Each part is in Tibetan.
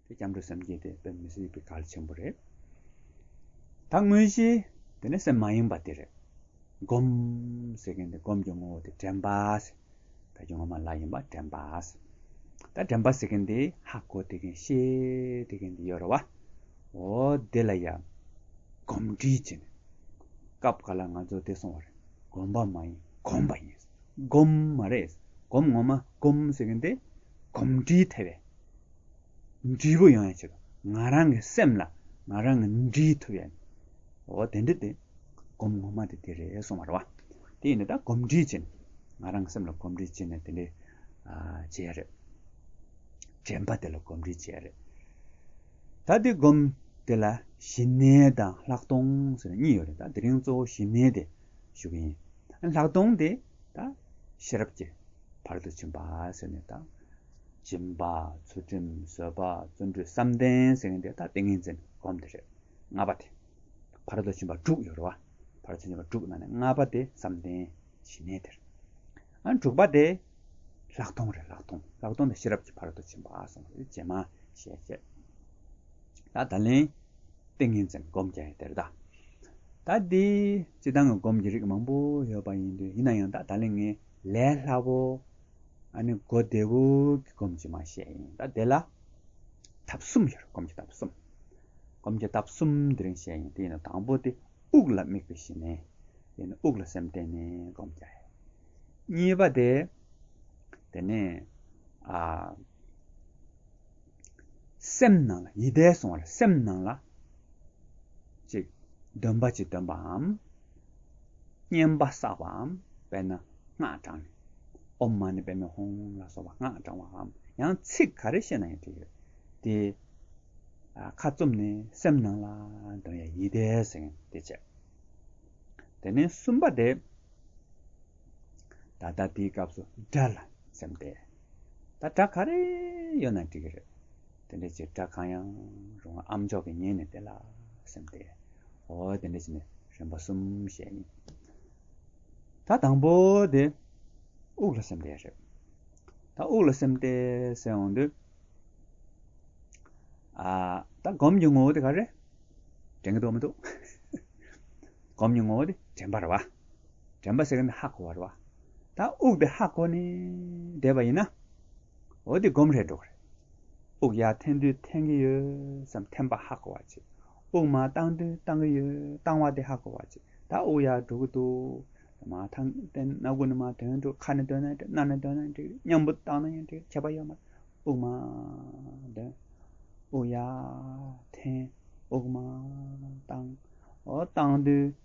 དེ་སྐྱབས་འགྲོ་སེམས་བསྐྱེད་དེ་དཔེ་མི་སྲིད་པའི་གལ་ཆེན་པོ་རེད། ད་དངོས་གཞི་དེ་ནི་སེམས་མ་ཡེངས་པ་དེ་རེད། སྒོམ་ཟེར་མཁན་དེ་སྒོམ་གྱི་ངོ་བོ་དེ་དྲན་པ་ཟེར། ད་ཁྱོད་ངོ་མ་ལ་ཡིན་པ་དྲན་པ་ཟེར། ད་དྲན་པ་ཟེར་མཁན་དེ་ཧ་གོ་དེ་མཁན་ཤེས་དེ་མཁན་དེ་ཡོད་རེད་བ། འོ་དེ་ལ་ཡང་སྒོམ་འདྲིས་བྱས་ནས། སྐབས་འགའ་ལ་ང་ཚོ་བདེ་སོང་བ་རེད། སྒོམ་པ་མ་ཡིན་གོམས་པ་ཡིན། སྒོམ་མ་རེད། སྒོམ་ངོ་མ་སྒོམ་ཟེར་གྱིན་དེ། གོམས་འདྲིས་ཐེབས་པའི་འབྲས་བུ་ཡོང་ཡང་ཆེད་དུ་ང་རང་གི་སེམས་ལ་ང་རང་གི་འདྲིས་ཐུབ་ཡ་ནི། འོ་དེ་འདྲི་དེ། སྒོམ་ངོ་མ་དེ་དེ་རེད་སོང་བ་རེད་བ། དེ་ཡིན་ན་ད་གོམས་འདྲིས་བྱེད་ནས། ང་རང་གི་སེམས་ལ་གོམས་འདྲིས་བྱེད་ནས་དེ་འདྲི་བྱེད་ཡ་རེད། དྲན་པ་དེ་ལ་གོམས་འདྲིས་བྱེད་ཡ་རེད། ད་དེ་སྒོམ་དེ་ལ་ཞི་གནས་དང་ལྷག་མཐོང་ཟེར་ནས་གཉིས་ཡོད་རེད་ད་དེ་རིང་གཙོ་བོ་ཞི་གནས་དེ། ཞུགས་ཡིན། ལྷག་མཐོང་དེ་དང་ཤེས་རབ་ཀྱི་བར་དུ་བྱིན་པ་ཟེར་ནས་དང། སྦྱིན་པ། ཚུལ་ཁྲིམས་བཟོད་པ་བརྩོན་འགྲུས་བསམ་གཏན་ཟེར་ནས་དེ་དང་ཏིང་ངེ་འཛིན་བསྒོམ་དེ་རེད། ལྔ་པ་དེ། བར་དུ་བྱིན་པ་དྲུག་ཡོད་རེད་བ། བར་དུ་བྱིན་པ་དྲུག་ནང་ནས་ལྔ་པ་དེ་བསམ་གཏན་ཞི་གནས་དེར། དྲུག་པ་དེ། ལྷག་མཐོང་རེད་ལྷག་མཐོང་ལྷག་མཐོང་དེ་ཤེས་རབ་ཀྱི་བར་དུ་བྱིན་པ་སོང་རེད་རྗེས་མ་ཞེས་བཤད། ད་ད་ལན། ཏིང་ངེ་འཛིན་སྒོམ་གྱི་དེར་བདག། ད་དེ་སྤྱི་དང་སྒོམ་གྱི་རིགས་མང་པོ་ཡོད་པ་ཡིན་དུས་ཡིན་ན་ཡང་དག་ད་ལན་ངས་ལས་སླ་བོ། ཨ་ནི་སྒོ་བདེ་བོ་གི་སྒོམ་གྱི་མ་བཤད་ཡིན་ད་དེ་ལ། ཐབས་གསུམ་ཡོད་རེད་སྒོམ་གྱི་ཐབས་གསུམ། སྒོམ་གྱི་ཐབས་གསུམ་དེ་རིང་བཤད་ཡིན་དེ་ཡིན་ན་དང་པོ་དེ་དབུགས་ལ་དམིགས་པའི་གཞི་ནས། དེ་ནས་དབུགས་ལ་སེམས་གཏད་ནས་སྒོམ་གྱི་རེད། གཉིས་པ་དེ། དེ་ནས། སེམས་ནང་ལ་ཡིད་བཟླས་སོང་བར་སེམས་ནང་ལ། ཅིག། འདོན་པ་ཅིག་འདོན་པའམ། བསྙེན་པ་བསགས་པའམ་དཔེར་ན་སྔགས་བགྲང་ནས། ཨོམ་མ་ནི་པདྨའི་ཧོམ་ལ་སོགས་པ་སྔགས་བགྲང་བའམ་ཡང་ཚིག་ག་རེ་བཤད་ན་ཡང་འགྲིག་ཡོད་དེ། ཁ་བཙུམ་ནས་སེམས་ནང་ལ་འདོན་ཡ་ཡིད་བཟླས་ཟེར་མཁན་དེ་བྱས། དེ་ནས་གསུམ་པ་དེ། ད་ལྟ་དེའི་སྐབས་སུ་དགྲ་ལ་སེམས་གཏད། ད་སྒྲ་ག་རེ་ཡོད་ན་འགྲིག་གི་རེད། དེ་འདྲ་ཅིག་སྒྲ་གང་ཡང་རུང་བ་ཨམ་མཆོག་གིས་ཉན་ནས་བལྟས་ལ་སེམས་ཏེ། འོ་དེ་འདྲ་ཅིག་ནི་རིམ་པ་གསུམ་ཞེས་ཡིན། ད་དང་པོ་དེ་དབུགས་ལ་སེམས་ཏེ་རེད། ད་དབུགས་ལ་སེམས་ཏེ་ཟེར་འོང་དུས། ད་སྒོམ་གྱི་ངོ་བོ་དེ་ག་རེ། དྲན་གྱི་འདུག་མི་འདུག། སྒོམ་གྱི་ངོ་བོ་དེ་དྲན་པར་བ། དྲན་པ་སེ་གནས་ཧ་གོ་བར་བ། ད་དབུགས་དེ་ཧ་གོ་ནས་བསྡད་པ་ཡིན་ན། འོ་དེ་སྒོམ་རེ་འགྲོ་གི་རེད། དབུགས་ཡར་འཐེན་དུས་འཐེན་གི་ཡོད་བསམ་འཐེན་པ་ཧ་གོ་བར་བྱེད། དབུགས་མར་བཏང་དུས་བཏང་གི་ཡོད་བཏང་བ་དེ་ཧ་གོ་བར་བྱེད། ད་དབུགས་ཡར་འགྲོ་གི་འདུག་དེ་མ་ཐག་འཐེན་སྣ་དགུ་ནས་མ་ཐོན་འགྲོ་ཁ་ནས་དོན་ན་འགྲིག་སྣ་ནས་དོན་ན་འགྲིག་སྙམ་པོ་བཏང་ན་ཡང་འགྲིག་ཁྱད་པར་ཡོད་མ་རེད། དབུགས་མར་འདོན། དབུགས་ཡར་འཐེན། དབུགས་མར་བཏང། འོ་བཏང་དུས་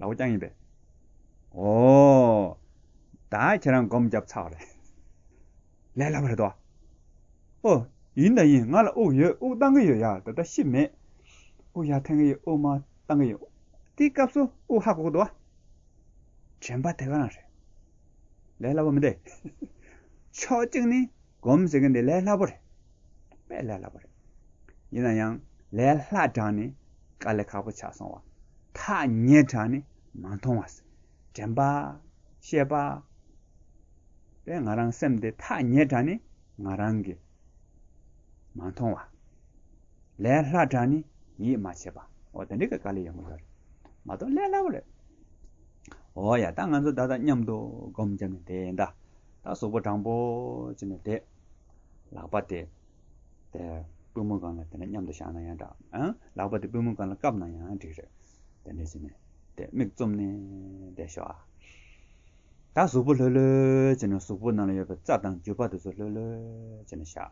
ལ་བ་རྐྱང་ཡིན་པས། ཨོ། ད་ཁྱེད་རང་སྒོམ་རྒྱབ་ཚར་བ་རེད། ལས་སླ་བ་རེད་དོ། ཨོ། ཡིན་ད་ཡིན་ང་ལ་དབུགས་ཡོད་དབུགས་བཏང་གི་ཡོད་ཡ་ད་ལྟ་ཤི་མེད། དབུགས་ཡར་འཐེན་གི་ཡོད་དབུགས་མར་བཏང་གི་ཡོད། དེའི་སྐབས་སུ་དབུགས་ཧ་གོ་གི་འདུག། དྲན་པ་དེ་ག་རང་རེད། ལས་སླ་བོ་མི་འདེད། ཕྱོགས་གཅིག་ནས་སྒོམ་ཟེར་གི་འདི་ལས་སླ་བོ་རེད། དཔེ་ལས་སླ་བོ་རེད། ཡིན་ན་ཡང་ལས་སླ་དྲགས་ནས་དཀའ་ལས་ཁག་པོ་ཆགས་སོང་བ། ཐག་ཉེ་དྲགས་ནས་མ་མཐོང་བ། དྲན་པ། ཤེས་པ། པའི་ང་རང་སེམས་དེ་ཐག་ཉེ་དྲགས་ནས་ང་རང་གི། མ་མཐོང་བ། ལས་སླ་དྲགས་ནས་ཡིད་མ་ཆེས་པ། འོ་དེ་འདྲའི་གི་དཀའ་ལས་ཡོད་མོད་རེད། མ་གཏོགས་ལས་སླ་བོ་རེད། འོ་ཡ་ད་ང་ཚོ་ད་ལྟ་མཉམ་དུ་སྒོམ་བརྒྱབ་ནས་བསྡད་ད། ད་གཟུགས་པོ་དྲང་པོ་བྱས་ནས་བསྡད། ལག་པ་དེ། པུས་མོ་གང་ལ་དེ་ནས་མཉམ་དུ་བཞག་ན་ཡང་འདྲ། ལག་པ་དེ་པུས་མོ་གང་ལ་བཀབ་ན་ཡང་འགྲིག། རེད་དེ། ནས་ནས། མིག་བཙུམ་ནས། བསྡད་ཤོག་ཨ། ད་གཟུགས་པོ་ལྷོད་ལྷོད་བྱས་ནས་གཟུགས་པོ་ནང་ལ་ཡོད་པའི་རྩ་དང་རྒྱུ་བ་དེ་ཚོ་ལྷོད་ལྷོད་བྱས་ནས་བཞག།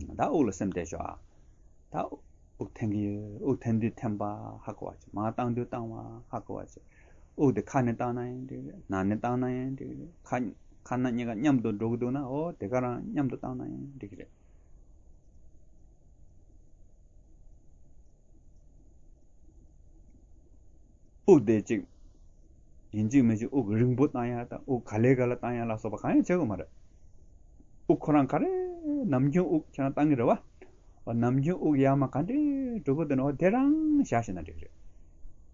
ད་དབུགས་ལ་སེམས་གཏད་ཤོག་ཨ། ད། དབུགས་འཐེན་གྱི་ཡོད་དབུགས་འཐེན་དུས་འཐེན་པ་ཧ་གོ་བ་བྱེད། མ་བཏང་དུས་བཏང་བ་ཧ་གོ་བ་བྱེད། དབུགས་དེ་ཁ་ནས་བཏང་ན་ཡང་འགྲིག་རེད་ནང་ནས་བཏང་ན་ཡང་འགྲིག་རེད་ཁ་ཁ་ནང་གཉིས་ཀ་མཉམ་དུ་འགྲོ་གི་འདུག་ན་ཨོ་དེ་ག་རང་མཉམ་དུ་བཏང་ན་ཡང་འགྲིག་རེད། དབུགས་དེ་གཅིག་ཡིན་གཅིག་མིན་གཅིག་དབུགས་རིང་པོ་བཏང་ཡག་དང་དབུགས་ག་ལེ་ག་ལ་བཏང་ཡག་ལ་སོགས་པ་གང་ཡང་བྱེད་དགོས་མ་རེད། དབུགས་ཁོ་རང་ག་རེ་ནམ་རྒྱུན་དབུགས་ཁྱེད་རང་བཏང་གི་རེད་བ། ཨོ་ནམ་རྒྱུན་དབུགས་ཡག་མ་ག་འདྲེ་འགྲོ་གི་འདུག་ན་ཨོ་དེ་རང་བཞག་ཤེས་ན་འགྲིག་རེད།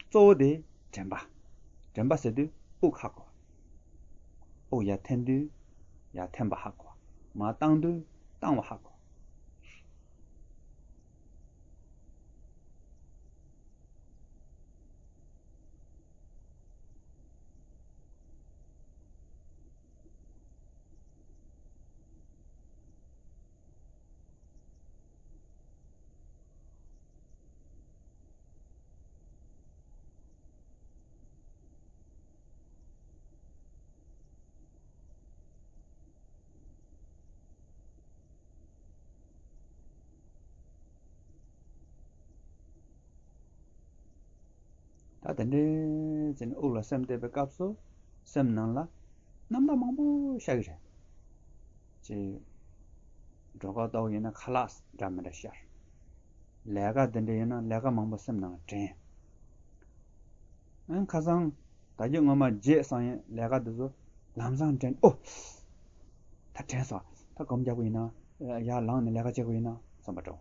གཙོ་བོ་དེ་དྲན་པ། དྲན་པ་ཟེར་དུས་དབུགས་ཧ་གོ། དབུགས་ཡར་འཐེན་དུས་ཡར་འཐེན་པ་ཧ་གོ། མ་བཏང་དུས་བཏང་བ་ཧ་གོ། ད་དེ་འདྲའི་ཚེ་ནི་དབུགས་ལ་སེམས་གཏད་པའི་སྐབས་སུ་སེམས་ནང་ལ་རྣམ་དག་མང་པོ་ཤར་གྱི་རེད། ཅེས། འགྲོ་ཁ་ལྟ་བུ་ཡིན་ན་ཁ་ལག་འདྲ་མི་འདྲ་ཤར། ལས་ཀ་འདི་འདྲ་ཡིན་ན་ལས་ཀ་མང་པོ་སེམས་ནང་དྲན། ཨང་ཁ་སང་ད་རྒྱུ་སྔོན་མ་བརྗེད་སོང་ཡིན་ལས་ཀ་འདི་ཚོ་ལམ་སང་དྲན་ཨོ། ད་དྲན་སོང་ད་གོམ་རྒྱག་པ་ཡིན་ན་ཡར་ལངས་ནས་ལས་ཀ་བྱེད་དགོས་ཡིན་ན་བསམ་པ་འདྲ།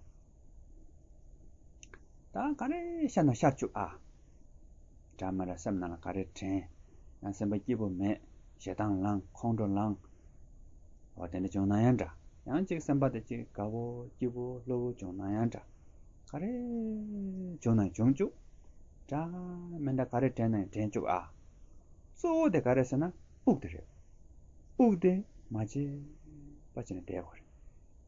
ད་ག་རེ་ཤར་ན་ཤར་བཅུག་ཨ། དྲ་མ་ར་སེམས་ནང་ལ་ག་རེ་དྲན། ཡང་སེམས་པ་སྐྱིད་པོ་མེད། ཞེ་སྡང་བསླང། ཁོང་ཁྲོ་བསླང། འོ་དེ་འདྲ་བྱུང་ན་ཡང་འདྲ། ཡང་གཅིག་སེམས་པ་དེ་གཅིག་དགའ་བོ་སྐྱིད་པོ་བློ་བུར་བྱུང་ན་ཡང་འདྲ། ག་རེ་བྱུང་ན་ཡང་བྱུང་བཅུག། དྲ་མི་འདྲ་ག་རེ་དྲན་ན་ཡང་དྲན་བཅུག་ཨ། གཙོ་བོ་དེ་ག་རེ་ཟེར་ན་དབུགས་དེ་རེད། དབུགས་དེ་མ་བརྗེད་པ་བྱས་ན་བསྡད་དགོས་རེད།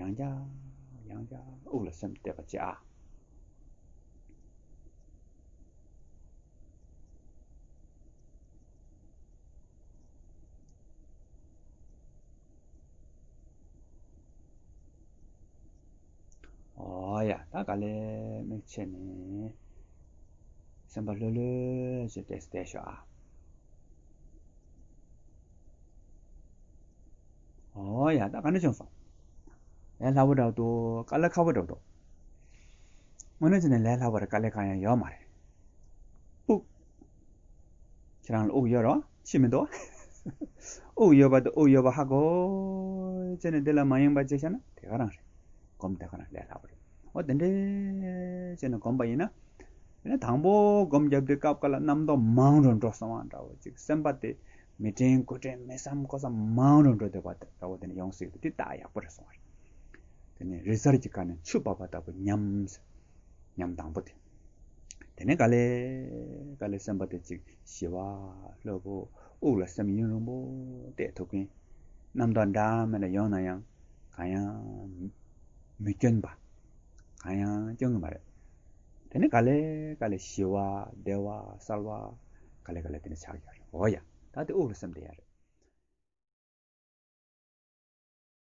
ཡང་བསྐྱར་ཡང་བསྐྱར་དབུགས་ལ་སེམས་གཏད་པ་བཅས་ཨ། ཨ་ཡ་ད་ག་ལེར་མིག་ཕྱེ་ནས་སེམས་པ་ལྷོད་ལྷོད་ཅིག་གཏད་ཤོག་ཨ། ཨོ་ཡ་ད་ག་འདྲ་བྱུང་སོང། ལས་སླ་བོ་འདྲ་བོ་འདུག་དཀའ་ལས་ཁག་པོ་འདྲ་བོ་འདུག། དངོས་གནས་བྱས་ན་ལས་སླ་བོ་རེད་དཀའ་ལས་གང་ཡང་ཡོད་མ་རེད། དབུགས། ཁྱེད་རང་ལ་དབུགས་ཡོད་རོགས་ཕྱིས་མི་འདུག། དབུགས་ཡོད་པ་དང་དབུགས་ཡོད་པ་ཧ་གོ། བྱས་ནས་འདི་ལ་མ་ཡེངས་པ་བྱས་ཤག་ན་དེ་ག་རང་རེད། སྒོམ་དེ་ག་རང་ལས་སླ་བོ་རེད། ཨོ་དེ་འདྲའི། བྱས་ནས་སྒོམ་པ་ཡིན་ན། དེ་ནས་དང་པོ་སྒོམ་བརྒྱབ་དུས་སྐབས་འགའ་ལ་རྣམ་རྟོག་མང་རུ་འགྲོ་སོང་བ་འདྲ་བོ་ཅིག་སེམས་པ་དེ། མི་དྲན་དགོད་དྲན་མི་བསམ་ཀོ་བསམ་མང་རུང་འགྲོ་འདོད་པ་འདྲ་བོ་དེ་ནས་ཡོང་སྲིད་འདུག་དེ་དག་ཡག་པོ་རེད་སོང་བ་རེད། དེ་ནས་རི་གཟར་གྱི་ཁ་ནས་ཆུ་འབབ་པ་ལྟ་བུ་ཉམས། ཉམས་དང་པོ་དེ། དེ་ནས་ག་ལེ། ག་ལེ་སེམས་པ་དེ་ཅིག་ཞི་བ། ལྷོད་པོ། དབུགས་ལ་སེམས་གཡེང་རིང་པོ་གཏད་ཐུབ་མཁན། རྣམ་རྟོག་འདྲ་མེད་ལ་ཡོང་ན་ཡང་གང་ཡང། མི་སྐྱོན་པ། གང་ཡང་སྐྱོན་གྱི་མ་རེད། དེ་ནི་ག་ལེ་ག་ལེ་ཞི་བ་བདེ་བ་གསར་བ་ག་ལེ་ག་ལེ་དེ་ནི་ཆགས་ཡོད་རེད་འོ་ཡ། ད་དེ་དབུགས་ལ་སེམས་བསྡད་ཡ་རེད།